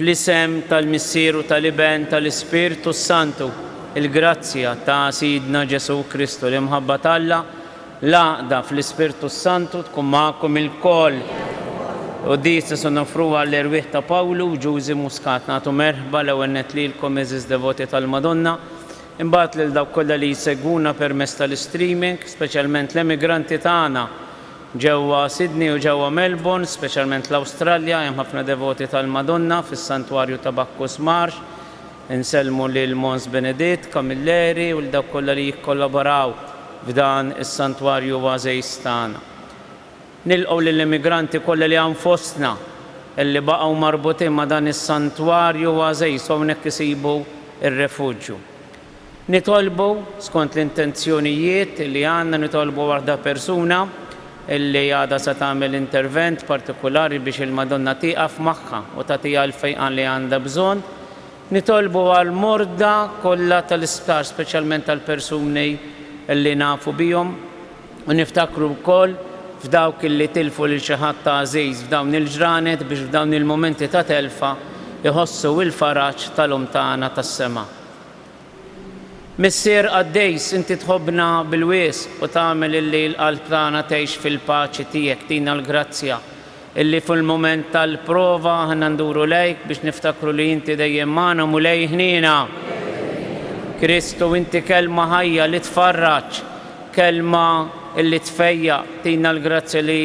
Fl-isem tal-Missier u tal-Iben tal-Ispirtu s-Santu, il-grazzja ta' Sidna Ġesù Kristu, l-imħabba t'Alla, l-għaqda fl-Ispirtu s-Santu tkun magħkom ilkoll. Quddies se noffru għall-erwieħ ta' Pawlu u Ġużi Muscat. Nagħtu merħba l-ewwel nett lilkom għeżież devoti tal-Madonna. Imbagħad lil dawk kollha li jsegwuna permezz tal-istreaming, speċjalment l-emigranti tagħna ġewwa Sydney u ġewwa Melbourne, speċjalment l-Awstralja, hemm ħafna devoti tal-Madonna fis-Santwarju ta' Bacchus Marsh. Insellmu lil Mons Beneditt Camilleri u lil dawk kollha li jikkollaboraw f'dan is-Santwarju oasis tagħna. Nilqgħu lill-immigranti kollha li hawn fostna, li baqgħu marbutin ma' dan is-santwarju għażiż u hawnhekk isibu r-refuġju. Nitolbu, skont l-intenzjonijiet li għandna, nitolbu waħda persuna li għadha se tagħmel intervent partikulari biex il-Madonna tieqaf magħha u tagħtiha l-fejqan li għandha bżonn. Nitolbu għall-morda kollha tal-isptar, speċjalment għall-persuni li nafu bihom. U niftakru wkoll f'dawk li tilfu lil xi ħadd għażiż f'dawn il-ġranet biex f'dawn il-mumenti ta' telfa jħossu il-faraġ tal-Omm tagħna tas-sema. Missier qaddejs, inti tħobbna bil-wisq u tagħmel illi l-qalb tagħna tgħix fil-paċi tiegħek, tina l-grazzja Illi fil-mument tal-prova aħna nduru lejk biex niftakru li inti dejjem magħna Mulej ħniena. Kristu inti kelma ħajja li tfarraġ, kelma illi tfejjaq, tina l-grazzja li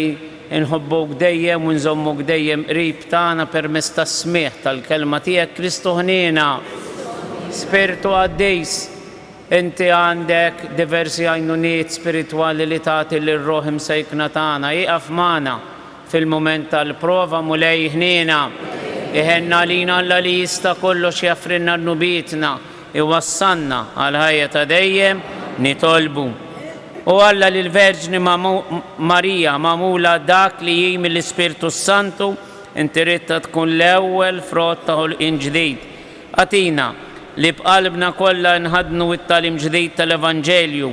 nħobbuk dejjem u nżommuk dejjem qrib tagħna permezz tas-smigħ tal-kelma tiegħek Kristu ħniena. Spirtu Qaddis. Inti għandek diversi għajnuniet spiritwali li tagħti lir-ruħ imsejkna tagħna. Ieqaf magħna fil-mument tal-prova, Mulej, iħniena. Iħenn għalina Alla li jista' kollox jaffrilna dnubietna, iwassalna għall-ħajja ta' dejjem, nitolbu. O Alla li l-Verġni Marija magħmula dak li hi mill-Ispirtu s-Santu, inti ridtha tkun l-ewwel frott ta' ħolqien ġdid. Agħtina li b'qalbna kollha nħaddnu t-tagħlim ġdid tal-Evanġelju,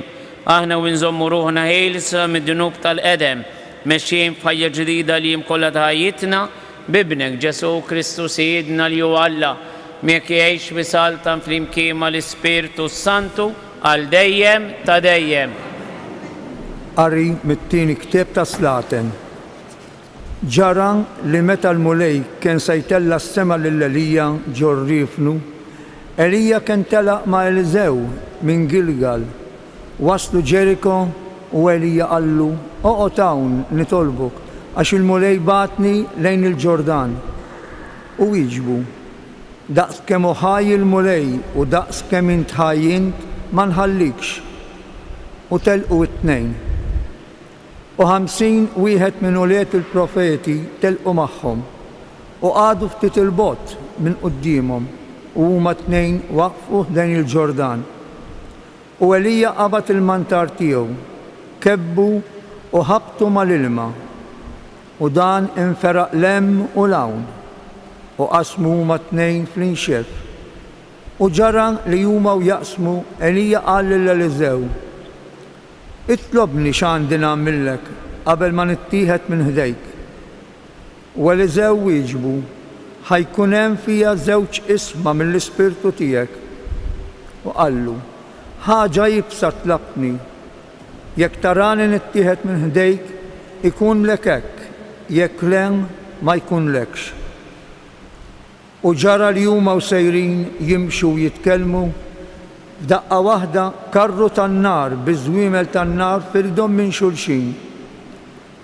aħna u nżommu ruħna ħielsa mid-dnub tal-qedem, mexjin f'ħajja ġdida l-jiem kollha ta' ħajjitna, b'Ibnek, Ġesù Kristu Sidna li hu Alla, miegħek jgħix u jsaltan flimkien mal-Ispirtu s-Santu għal dejjem ta' dejjem. Qari mit-Tieni Ktieb tas-Slaten. Ġara li meta l-Mulej kien se jtella' s-sema lil Elija ġo rriefnu, Elija kien telaq ma' Eliżew minn Gilgal. Waslu Ġeriko u Elija qallu, Oqgħod hawn, nitolbok, għax il-Mulej bagħatni lejn il-Ġordan. U wieġbu, Daqs kemm hu ħaj il-Mulej u daqs kemm int ħaj int, ma nħallikx. U telqu t-tnejn. U ħamsin wieħed minn ulied il-profeti telqu magħhom, u qagħdu ftit 'il bogħod minn quddiemhom, u huma t-tnejn waqfu ħdejn il-Ġordan. U Elija qabad il-mantar tiegħu, kebbu u ħabbtu mal-ilma, u dan inferaq 'l hemm u 'l hawn, u qasmu huma t-tnejn fl-inxef. U ġara li huma u jaqsmu, Elija qal lil Eliżew, Itlobni x'għandi nagħmillek qabel ma nittieħed minn ħdejk. U Eliżew wieġbu, Ħa jkun hemm fija żewġ isma mill-ispirtu tiegħek. U qallu, Ħaġa iebsa tlabtni. Jekk tarani nittieħed minn ħdejk, ikunlek hekk, jekk le, ma jkunlekx. U ġara li huma u sejrin jimxu u jitkellmu, f'daqqa waħda karru tan-nar bi żwiemel tan-nar firdhom minn xulxin.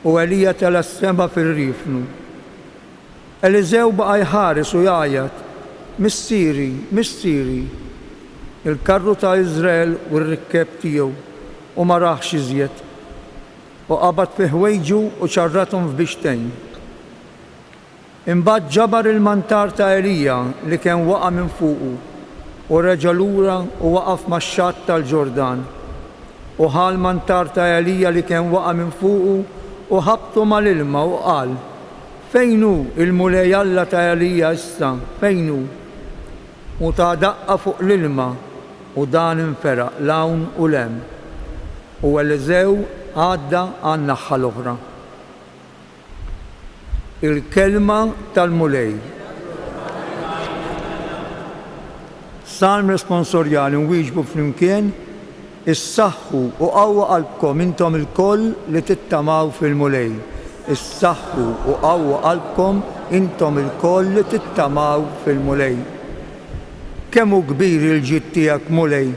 U Elija tela' s-sema fir-riefnu. Eliżew baqa' jħares u jgħajjat, Missieri, missieri! Il-karru ta' Iżrael u r-rikkeb tiegħu, u ma rahx iżjed. U qabad fi ħwejġu u ċarrathom f'bixtejn. Imbagħad ġabar il-mantar ta' Elija li kien waqa' minn fuqu u reġa' lura u waqaf max-xatt tal-Ġordan. U ħa l-mantar ta' Elija li kien waqa' minn fuqu u ħabbtu mal-ilma u qal, Fejn hu l-Mulej Alla ta' Elija issa, fejn hu? U ta daqqa fuq l-ilma u dan inferaq 'l hawn u 'l hemm. U Eliżew għadda għan-naħħa l-oħra. Il-kelma tal-Mulej. Salm Responsorjali Nwieġbu flimkien Issaħħu u qawwa qalbkom intom ilkoll li tittamaw fil-Mulej, issaħħu u qawwa qalbkom intom ilkoll li tittamaw fil-Mulej. Kemm hu kbir il-ġid tiegħek, Mulej!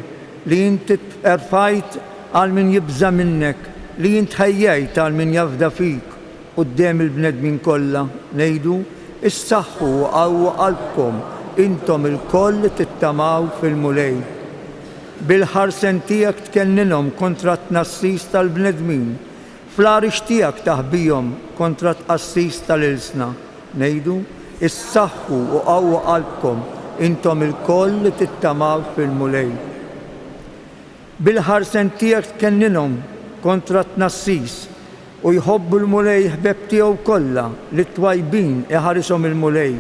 Li int terfajt għal min jibża' minnek, li int ħejjejt għal min jafda fik quddiem il-bnedmin kollha, ngħidu, Issaħħu u qawwu qalbkom, intom ilkoll li tittamaw fil-Mulej. Bil-ħarsen tiegħek tkenninhom kontra t-tnassis tal-bnedmin, Fl-għarix tiegħek taħbihom kontra t-tqassis tal-ilsna, ngħidu, Issaħħu u qawwu qalbkom, intom ilkoll li tittamaw fil-Mulej. Bil-ħarsen tiegħek tkenninhom kontra t-tnassis, u jħobbu l-Mulej ħbeb tiegħu kollha, lit-twajbin iħarishom il-Mulej,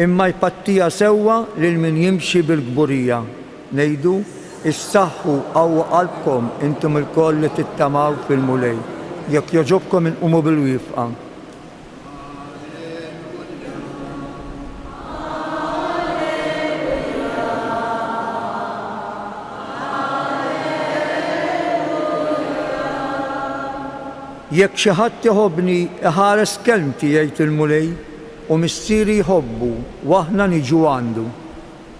imma jpattiha sewwa lil min jimxi bil-kburija. Ngħidu, Issaħħu qawwa qalbkom, intom ilkoll li tittamaw fil-Mulej. Jekk jogħġobkom inqumu bil-wifqa. Jekk xi ħadd iħobbni, iħares kelmti, jgħid il-Mulej, u Missieri jħobbu, u aħna niġu għandu.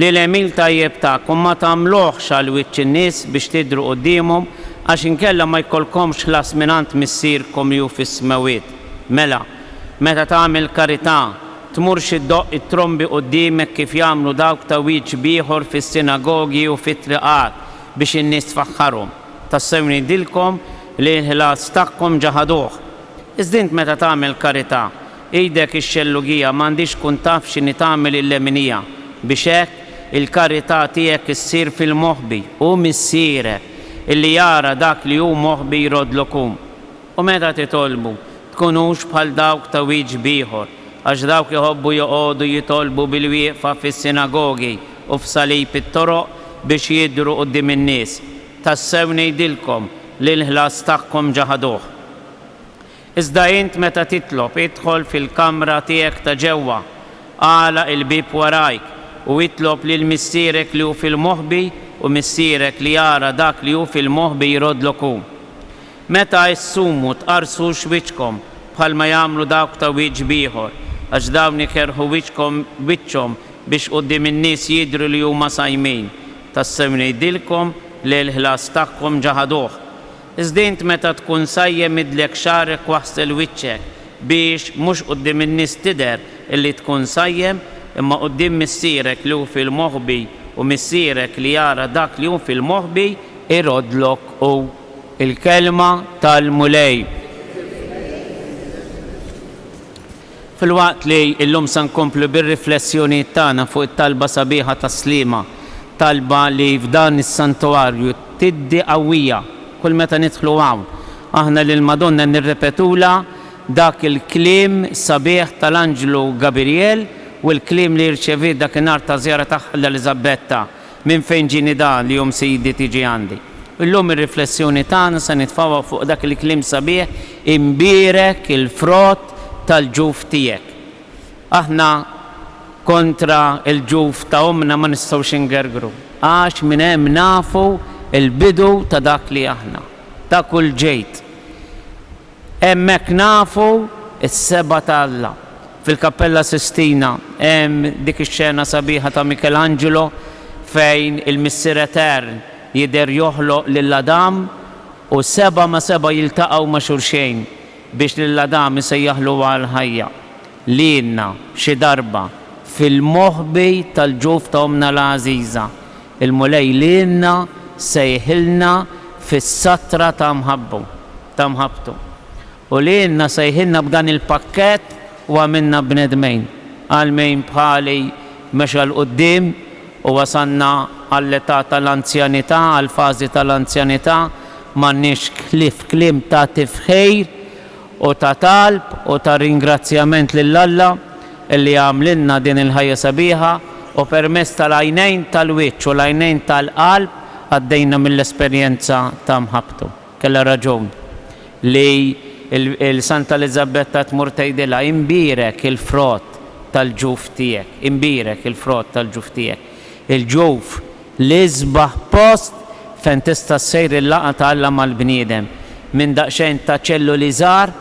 Li l-għemil tajjeb tagħkom ma tagħmluhx għal wiċċ in-nies biex tidhru quddiemhom, għax inkella ma jkollkomx ħlas mingħand Missierkom li hu fis-smewwiet. Mela, meta tagħmel karità, tmurx iddoqq it-trombi quddiemek kif jagħmlu dawk ta' wiċċ b'ieħor fis-sinagogi u fit-triqat biex in-nies tfaħħarhom. Tassew ngħidilkom li l-ħlas tagħhom ġa ħaduh. Iżda int meta tagħmel karità, Idek ix-xellugija m'għandhiex tkun taf x'inhi tagħmel il-leminija, biex hekk il-karità tiegħek issir fil-moħbi, u Missierek, li jara dak li hu moħbi jroddlok hu. U meta titolbu, tkunux bħal dawk ta' wieġb ieħor, għax dawk iħobbu joqogħdu jitolbu bil-wieqfa fis-sinagogi u f'salib it-toroq biex jidhru quddiem in-nies. Tassew ngħidilkom li l-ħlas tagħhom ġa ħaduh. Iżda int meta titlob, idħol fil-kamra tiegħek ta' ġewwa, agħlaq il-bieb warajk, u itlob lil Missierek li hu fil-moħbi, u Missierek li jara dak li hu fil-moħbi jroddlok hu. Meta ssumu, tqarrsux wiċċkom, bħalma jagħmlu dawk ta' wiċċ b'ieħor, għax dawn ikerrħu wiċċkom b'wiċċhom biex quddiem in-nies jidhru li huma sajmin. Tassew ngħidilkom, le l-ħlas tagħhom ġa ħaduh. Iżda int meta tkun sajjem idlek xagħrek u aħsel wiċċek, biex mhux quddiem in-nies tidher illi tkun sajjem, imma quddiem Missierek li hu fil-moħbi, u Missierek li jara dak li hu fil-moħbi, iroddlok hu. Il-Kelma tal-Mulej. Filwaqt li llum se nkomplu bir-riflessjonijiet tagħna fuq it-talba sabiħa tas-Sliema, talba li f'dan is-Santuarju tiddi qawwija kull meta nidħlu hawn aħna lill-Madonna nirrepetulha dak il-kliem sabiħ tal-Anġlu Gabirjel u l-kliem li rċeviet dakinhar taż-żjara tagħha l-Eliżabetta, Minn fejn ġieni dan li jum Sidi tiġi għandi? Illum ir-riflessjoni tagħna se nitfgħuha fuq dak il-kliem sabiħ, Imbierek il-frott tal-ġuf tiegħek. Aħna kontra l-ġuf ta' ommna ma nistgħux ingergru, għax minn hemm nafu l-bidu ta' dak li aħna, ta' kull ġid. Hemmhekk nafu s-Seba' ta' Alla. Fil-Kappella Sistina hemm dik ix-xena sabiħa ta' Michelangelo fejn il-Missier Etern jidher joħloq lil Adam u seba' ma' seba' jiltaqgħu ma' xulxejn biex lil Adam isejjaħlu għall-ħajja. li ilna xi darba fil-moħbi tal-ġuf ta' ommna l-għażiża, il-Mulej li ilna sejħilna fis-satra ta' mħabbu, ta' mħabbtu, u li ilna sejħilna b'dan il-pakkett u għamilna bnedmejn, għal min bħali mexa 'l quddiem u wasalna għall-età tal-anzjanità, għall-fażi tal-anzjanità, m'għandniex ħlief kliem tagħti f'ħejr u ta' talb u ta' ringrazzjament lil Alla li għamlilna din il-ħajja sabiħa u permezz tal-għajnejn tal-wiċċ u l-għajnejn tal-qalb għaddejna mill-esperjenza ta' mħabbtu. Kellha raġun li l-Santa Eliżabetta tmur tgħidilha, Inbierek il-frott tal-ġuf tiegħek, inbierek il-frott tal-ġuf tiegħek. Il-ġuf L-isbaħ post fejn tista' ssir il-laqgħa ta' Alla mal-bniedem. Minn daqsxejn ta' ċelluli żgħar,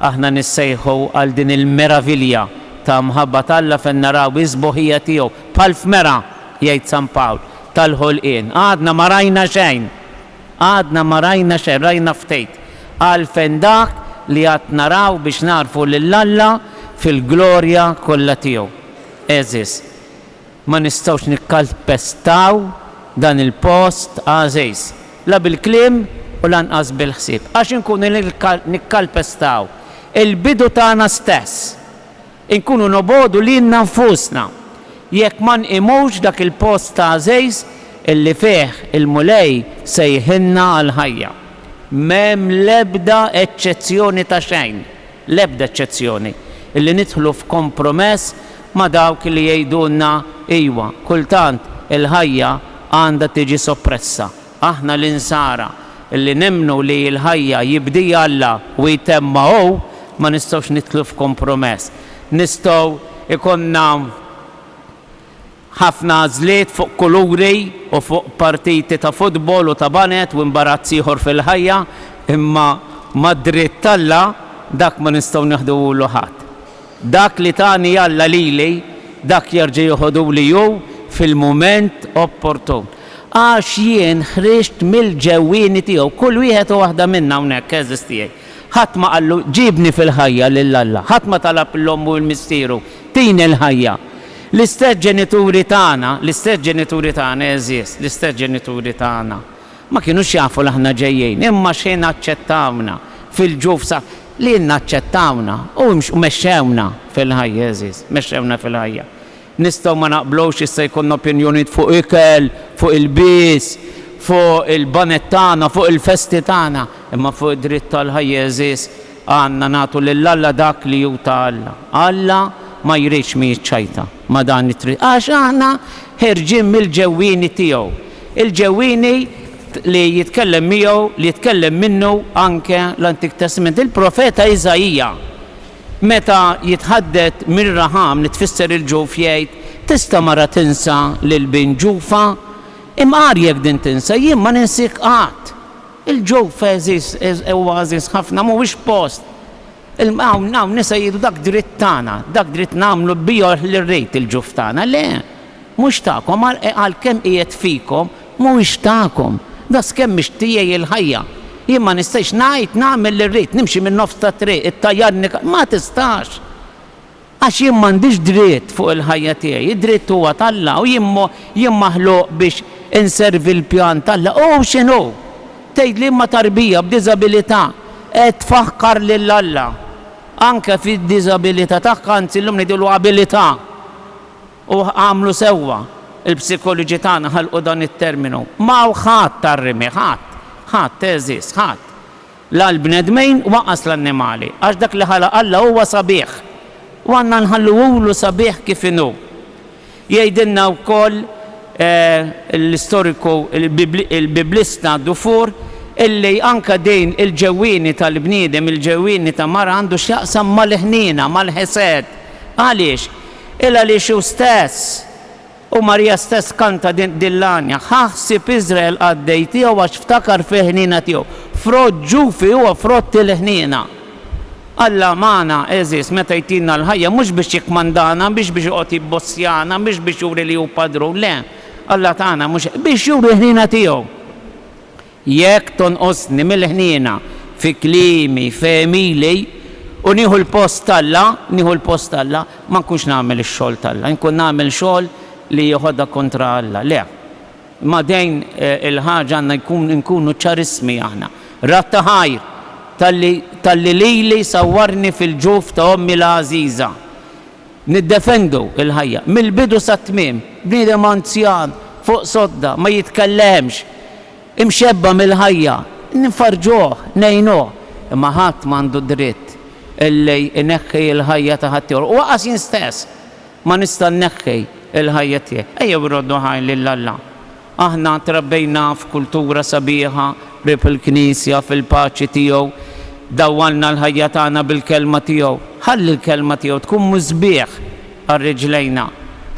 aħna nissejħu għal din il-meravilja ta' mħabba t'Alla fejn naraw is-sbuħija tiegħu, bħal f'mera, jgħid San Pawl, tal-ħolqien. Għadna ma rajna xejn! Għadna ma rajna xejn, rajna ftit. Għalfejn dak li għad naraw biex nagħrfu lil Alla fil-glorja kollha tiegħu. Għeżież. Ma nistgħux nikkalpestaw dan il-post għażiż, la bil-kliem u lanqas bil-ħsieb, għax inkunu nikkalpestaw il-bidu tagħna stess. Inkunu nobogħdu lilna nfusna jekk ma nqimux dak il-post għażiż li fih il-Mulej sejħilna għall-ħajja. M'hemm l-ebda eċċezzjoni ta' xejn. l-ebda eċċezzjoni, li nidħlu f'kompromess ma' dawk li jgħidulna iwa, kultant il-ħajja għandha tiġi soppressa. Aħna l-Insara, li nemmnu li l-ħajja jibdieha Alla u jtemmha hu, ma nistgħux nidħlu f'kompromess. Nistgħu jkollna. Ħafna għażliet fuq kuluri u fuq partiti ta' futbol u ta' baned u imbarazz ieħor fil-ħajja, imma mad-dritt t'Alla dak ma nistgħu neħduhulu ħadd. Dak li tani Alla lili, dak jerġa' jeħoduli hu fil-mument opportun. Għax jien ħriġt mill-ġewwieni tiegħu. Kull wieħed u waħda minna hawnhekk, għeżież tiegħi, ħadd ma qallu, 'Ġibni fil-ħajja lil Alla. Ħadd ma talab 'l ommu u 'l missieru, 'Tini l-ħajja. L-istess ġenituri tagħna, l-istess ġenituri tagħna għeżież, l-istess ġenituri tagħna, ma kinux jafu li aħna ġejjin, imma x'ħin aċċettawna fil-ġuf sa li ilna aċċettawna u imx mexxewna fil-ħajja għeżież, mexxewna fil-ħajja. Nistgħu ma naqblux, jista' jkollna opinjonijiet fuq ikel, fuq ilbies, fuq il-banet tagħna, fuq il-festi tagħna, imma fuq id-dritt għall-ħajja għeżież, Għandna nagħtu lil Alla dak li hu ta' Alla. Alla ma jridx min jiċċajta ma' dan it-triq għax aħna ħerġin mill-ġewwieni tiegħu. Il-ġewwieni li jitkellem miegħu, li jitkellem minnu anke l-Antik Testament. Il-profeta Iżaija meta jitħadded minn Raħam li tfisser il-ġuf jgħid, Tista' mara tinsa lil bin ġufha? Imqar jekk din tinsa, jien ma ninsiek qatt. Il-ġuf għeżież, huwa għażież ħafna, mhuwiex post. Hawn, hawn nisa jgħidu dak dritt tagħna, dak dritt nagħmlu bih li rrid il-ġuf tagħna. Le, mhux tagħkom, għalkemm qiegħed fikom, mhuwiex tagħkom. Daqskemm mhix tiegħi il-ħajja, jien ma nistax ngħid nagħmel li rrid, nimxi min-nofs tat-triq, ittajjarni, ma tistax. Għax jien m'għandix dritt fuq il-ħajja tiegħi, id-dritt huwa t'Alla u jien jien maħluq biex inservi l-pjan t'Alla. U hu x'inhu? Tgħid liema tarbija b'diżabilità qed tfaħkar lil Alla anke fid-diżabilità tagħha, anzi llum ngħidulu abilità. U għamlu sewwa l-psikoloġi tagħna ħalqu dan it-terminu. M'hawn ħadd għar-rimi, ħadd, ħadd għeżież, ħadd. La l-bnedmin waqqas l-annimali, għax dak li ħalaq Alla huwa sabiħ, u għandna nħalluhulu sabiħ kif inhu. Jgħidilna wkoll l-istoriku l-Biblista Dufour illi anke din il-ġewwieni tal-bniedem, il-ġewwieni ta' mara għandu x'jaqsam mal-ħniena, mal-ħesed. Għaliex? Il-għaliex hu stess. U Marija stess kanta din din l-għanja, Ħa ħsieb Iżrael qaddej tiegħu għax ftakar fil-ħniena tiegħu. Frott ġufi huwa frott il-ħniena. Alla magħna, għeżież, meta jtina l-ħajja mhux biex jikkmandana, mhix biex joqgħod jibbossjana, mhix biex juri li hu padrun, le, Alla tagħna mhux hekk, biex juri l-ħniena tiegħu. Jekk tonqosni mill-ħniena fi kliemi, f'għemili, u nieħu l-post t'Alla, nieħu l-post t'Alla, ma nkunx nagħmel ix-xogħol t'Alla, inkun nagħmel xogħol li jeħodha kontra Alla. Le. Ma' dejn il-ħaġa għandna jkun nkunu ċarissmi aħna. Rat ta' ħajr, talli talli lili sawwarni fil-ġuf ta' ommi l-għażiża. Niddefendu l-ħajja mill-bidu sat-tmiem. Bniedem anzjan, fuq sodda, ma jitkellemx, imxebba' mill-ħajja, nfarrġuh, ngħinuh, imma ħadd m'għandu dritt li jneħħi l-ħajja ta' ħaddieħor. U anqas jien stess ma nista' nneħħi l-ħajja tiegħi. Ejjew irroddu ħajr lil Alla. Aħna trabbejna f'kultura sabiħa, qrib il-Knisja, fil-paċi tiegħu. Dawwalna l-ħajja tagħna bil-Kelma tiegħu. Ħalli l-Kelma tiegħu tkun musbieħ għal riġlejna.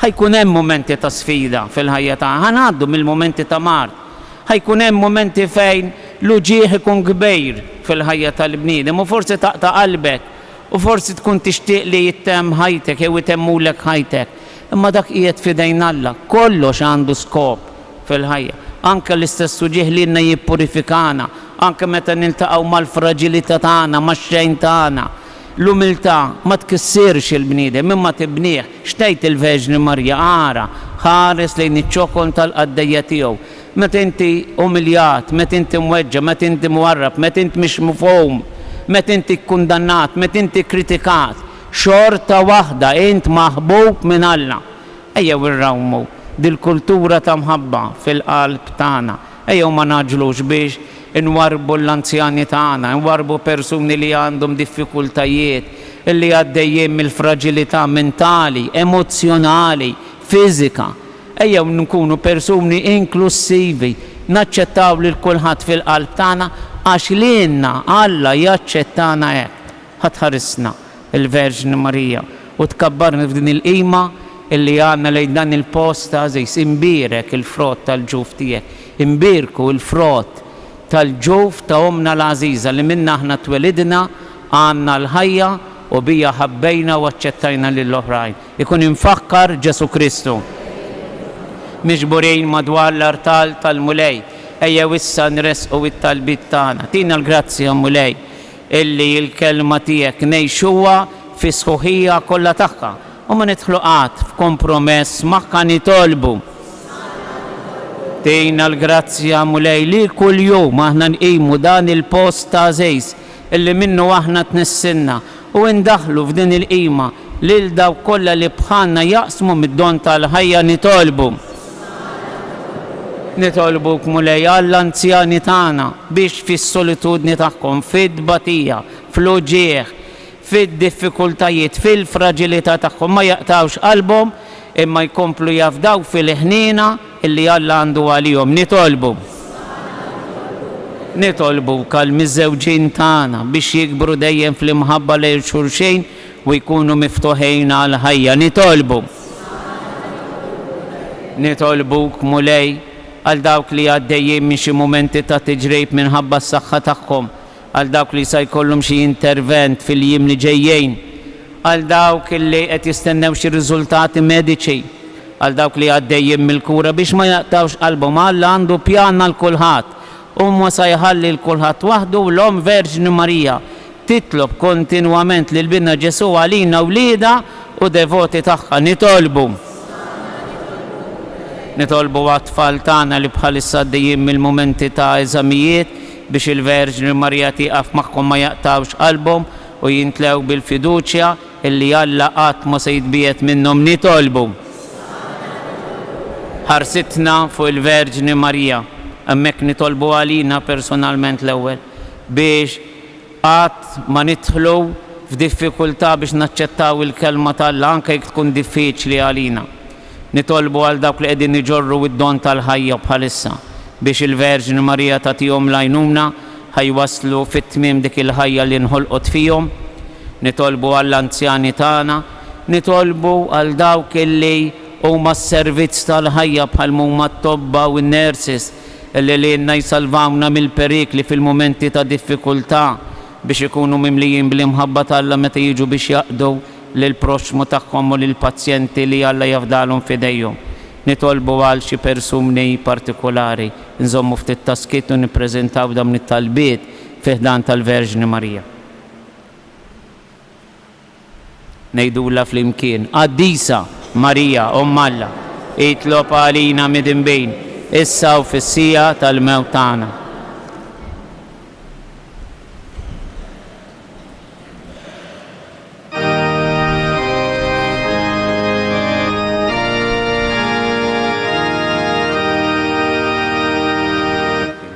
Ħa jkun hemm mumenti ta' sfida fil-ħajja tagħna. Ħa ngħaddu mill-mumenti ta' mard. Ħa jkun hemm mumenti fejn l-uġigħ ikun kbir fil-ħajja tal-bniedem u forsi taqta' qalbek u forsi tkun tixtieq li jittemm ħajtek jew itemmulek ħajtek. Imma dak qiegħed f'idejn Alla. Kollox għandu skop fil-ħajja. Anke l-istess uġigħ lilna jippurifikana, anke meta niltaqgħu mal-fraġilità tagħna, max-xejn tagħna. L-umiltà ma tkissirx il-bniedem, imma tibnih. X'tgħid il-Verġni Marija, Ara, ħares lejn iċ-ċokon tal-qaddejja tiegħu. Meta inti umiljat, meta inti mweġġa', meta inti mwarrab, meta int mhix mifhum, meta inti kkundannat, meta inti kkritikat, Xorta waħda int maħbub minn Alla. Ejjew irrawmu dil-kultura ta' mħabba fil-qalb tagħna. Ejjew ma ngħaġġlux biex inwarrbu l-anzjani tagħna, inwarrbu persuni li għandhom diffikultajiet, li għaddejjin mill-fraġilità mentali, emozzjonali, fiżika. Ejjew nkunu persuni inklussivi, naċċettaw lil kulħadd fil-qalb tagħna għax lilna Alla jaċċettana hekk. Ħa tħarisna, il-Verġni Marija, u tkabbarna f'din il-qima li għandna lejn dan il-post għażiż. Imbierek il-frott tal-ġuf tiegħek. Imbierku l-frott tal-ġuf ta' ommna l-għażiża li minnha aħna twelidna, għandna l-ħajja u biha ħabbejna u aċċettajna lill-oħrajn. Ikun imfakkar Ġesù Kristu. Miġburin madwar l-artal tal-Mulej, ejjew issa nressqu t-talbiet tagħna. Tina l-grazzja, Mulej, Illi l-kelma tiegħek ngħixuha fis-sħuħija kollha tagħha u ma nidħlu qatt f'kompromess magħha nitolbu. Tina l-grazzja Mulej li kuljum aħna nqimu dan il-post t'għażiż illi minnu aħna tnissilna u indaħħlu f'din il-qima lil dawk kollha li bħalna jaqsmu mid-don tal-ħajja nitolbu. Nitolbuk, Mulej, għall-anzjani tagħna, biex fis-solitudni tagħhom, fit-tbatija, fl-uġigħ, fid-diffikultajiet, fil-fraġilità tagħhom ma jaqtgħux qalbhom, imma jkomplu jafdaw fil-ħniena li Alla għandu għalihom. Nitolbuk, Nitolbuk għall-miżżewġin tagħna, biex jikbru dejjem fl-imħabba lejn xulxejn, u jkunu miftuħin għall-ħajja. Nitolbu, nitolbuk, Mulej, għal dawk li għaddejjin minn xi mumenti ta' tiġrib minħabba s-saħħa tagħhom, għal dawk li sa jkollhom xi intervent fil-jiem li ġejjin, għal dawk li qed jistennew xi riżultati mediċi, għal dawk li għaddejjin mill-kura, biex ma jaqtgħux qalbhom. Alla għandu pjan għal kulħadd. Huwa sa jħalli 'l kulħadd waħdu u l-Omm Verġni Marija, Titlob kontinwament lil Binha Ġesù għalina wliedha u devoti tagħha. Nitolbu. Nitolbu għat-tfal tagħna li bħalissa għaddejjin mill-mumenti ta' eżamijiet biex il-Verġni Marija tieqaf magħhom ma jaqtgħux qalbhom u jimtlew bil-fiduċja illi Alla qatt ma se jitbiegħed minnhom. Nitolbu. Ħarsitna fuq il-Verġni Marija. Hemmhekk nitolbu għalina personalment l-ewwel biex. Qatt ma nidħlu f'diffikultà biex naċċettaw il-Kelma t'Alla anke jekk tkun diffiċli għalina. Nitolbu għal dawk li qegħdin iġorru d-don tal-ħajja bħalissa biex il-Verġni Marija tagħtihom l-għajnuna ħa jwasslu fit-tmiem dik il-ħajja li nħolqot fihom. Nitolbu għall-anzjani tagħna. Nitolbu għal dawk li huma s-servizz tal-ħajja bħal m'huma t-tobba u n-nurses. L-għelienna jsalvawna mill-perikli fil-mumenti ta' diffikultà, biex ikunu mimlijin bl-imħabba t'Alla meta jiġu biex jaqdu lill-proxxmu tagħhom u lill-pazjenti li Alla jafdalhom f'idejhom. Nitolbu għal xi persuni partikulari. Nżommu ftit ta' skiet u nippreżentaw dawn it-talbiet fi ħdan tal-Verġni Marija. Ngħidulha flimkien, Qaddisa Marija, Omm Alla, itlob għalina midinbin, issa u fis-siegħa tal-mewt tagħna.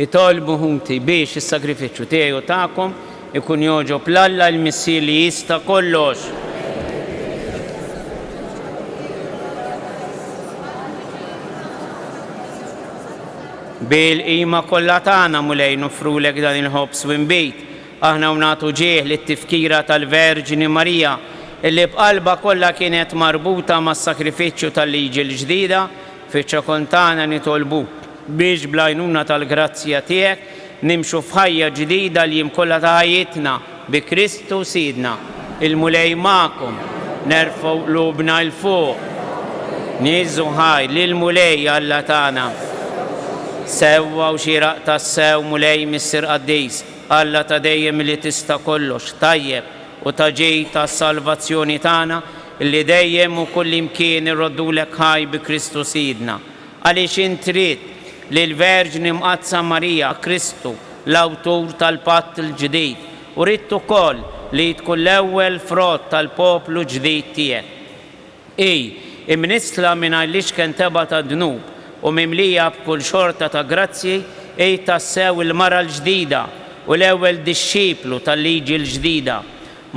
Itolbu ħuti biex is-sagrifiċċju tiegħi u tagħkom ikun jogħġob 'l Alla il-Missier li jista' kollox. Bil-qima kollha tagħna, Mulej, noffrulek dan il-ħobż u nbid, Aħna hawn nagħtu ġieħ lit-tifkira tal-Verġni Marija, li b'qalbha kollha kienet marbuta mas-sagrifiċċju tal-Liġi l-Ġdida, fiċ-Ċokontana nitolbuk biex bl-għajnuna tal-grazzja tiegħek nimxu f'ħajja ġdida l-jiem kollha ta' ħajjitna, bi Kristu Sidna. Il-Mulej magħkom. Nerfgħu qlubna 'l fuq. Nieżżu ħaj lill-Mulej Alla tagħna. Sewwa u xieraq tassew, Mulej Missier Qaddis. Alla ta' dejjem li tista' kollox, tajjeb u ta' ġid għas-salvazzjoni tagħna, li dejjem u kullimkien irroddulek ħaj bi Kristu Sidna. Għaliex int ridt li l-Verġni Mqaddsa Marija, Kristu, l-Awtur tal-Patt il-Ġdid, u ridt ukoll li hi tkun l-ewwel frott tal-poplu ġdid tiegħek. Hi, imnissla mingħajr l-ixken tebgħa tad-dnub u mimlija b'kull xorta ta' grazzji, hi tassew il-mara l-ġdida u l-ewwel dixxiplu tal-liġi l-ġdida.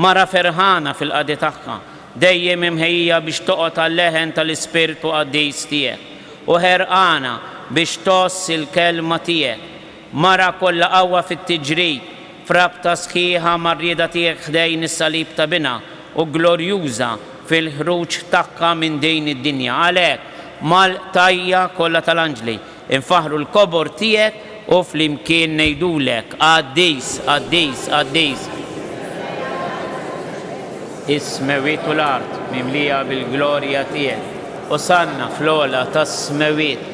Mara ferħana fil-qadi tagħha, dejjem imħejjija biex toqgħod għal-leħen tal-ispirtu qaddis tiegħek, u ħerqana biex tgħożż il-kelma tiegħek. Mara kollha qawwa fit-tiġrid, f'rabta sħiħa mar-rieda tiegħek ħdejn is-salib ta' Binha, u glorjuża fil-ħruġ tagħha minn din id-dinja. Għalhekk, mal-qtajja' kollha tal-anġli, infaħħru l-kobor tiegħek u flimkien ngħidulek, Qaddis, qaddis, qaddis, is-smewwiet u l-art mimlija bil-glorja tiegħek, Osanna fl-ogħla tas-smewwiet.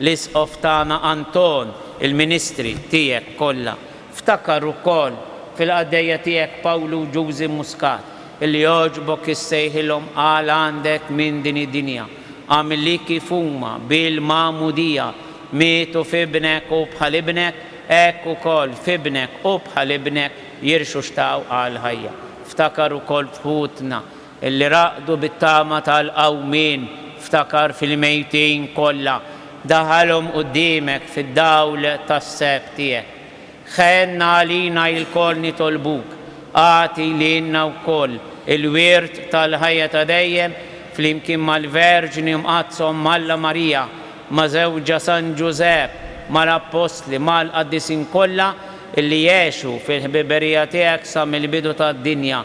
L-Isqof tagħna Anton, il-ministri tiegħek kollha. Ftakar ukoll fil-qaddejja tiegħek Pawlu Ġużi Muscat, li għoġbok issejħilhom għal għandek minn din id-dinja. Agħmel li kif huma, bil-magħmudija, mietu f'Ibnek u bħal Ibnek, hekk ukoll f'Ibnek u bħal Ibnek jirxuxtaw għall-ħajja. Ftakar ukoll f'ħutna Li raqdu bit-tama tal-qawmien, ftakar fil-mejtin kollha, daħalhom quddiemek fid-dawl tas-seb tiegħek. Ħenn għalina ilkoll nitolbuk, agħti lilna wkoll il-wirt tal-ħajja ta' dejjem flimkien mal-Verġni Mqaddsa Omm Alla Marija, ma' żewġha San Ġużepp, mal-Appostli, mal-Qaddisin kollha li għexu fil-ħbiberija tiegħek sa mill-bidu tad-dinja.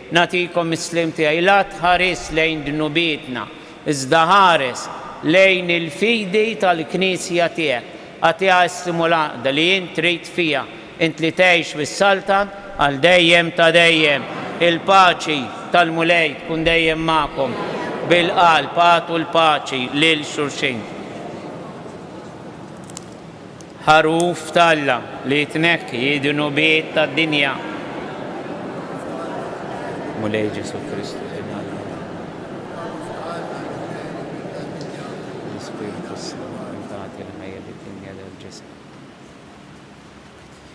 Nagħtikom is-sliem tiegħi. La tħaris lejn dnubietna, iżda ħares lejn il-fidi tal-Knisja tiegħek. Agħtiha issimu l-għaqda li int trid fiha, int li tgħix u ssaltan għal dejjem ta' dejjem. Il-paċi tal-Mulej tkun dejjem magħkom. Bil-qalb agħtu l-paċi lil xulxin. Ħaruf t'Alla li jitnekki d-dnubiet tad-dinja. Mulej Ġesù Kristu, Ibn Alla. Ħaruf t'Alla li jitnekki d-dnubiet tad-dinja. L-Ispirtu s-Santu li tagħti l-ħajja lid-dinja lill-ġisem.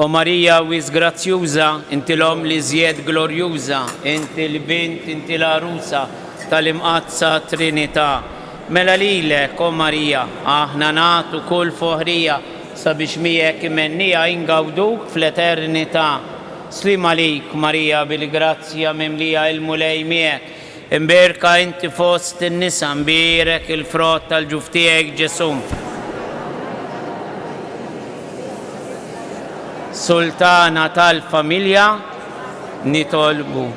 O Marija wis grazzjuża, inti l-Omm li żjed glorjuża, inti l-Bint, inti l-Għarusa tal-Imqaddsa Trinità. Mela lilek, O Marija, aħna nagħtu kull foħrija sabiex miegħek imennija ingawduk fl-eternità. Sliem għalik, Marija bil-grazzja mimlija il-Mulej miegħek. Imbiérka inti fost in-nisa, mbierek il-frott tal-ġuf tiegħek, Ġesù. Sultana tal-Familja, nitolbu.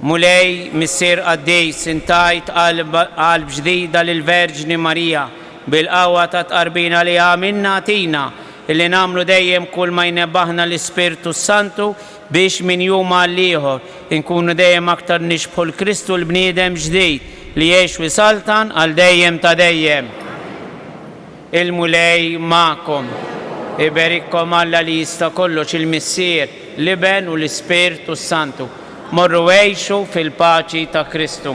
Mulej, Missier Qaddis, int tajt qalb qalb ġdida lill-Verġni Marija, bil-qawwa tat-tqarbin għaliha minna agħtina li nagħmlu dejjem kull ma jnebbaħna l-Ispirtu s-Santu Biex minn jum għal ieħor inkunu dejjem aktar nixbħu 'l Kristu l-bniedem ġdid li jgħix u jsaltan għal dejjem ta' dejjem. Il-Mulej magħkom. Iberikkom Alla li jista' kollox, il-Missier, l-Iben u l-Ispirtu s-Santu. Morru għixu fil-paċi ta' Kristu.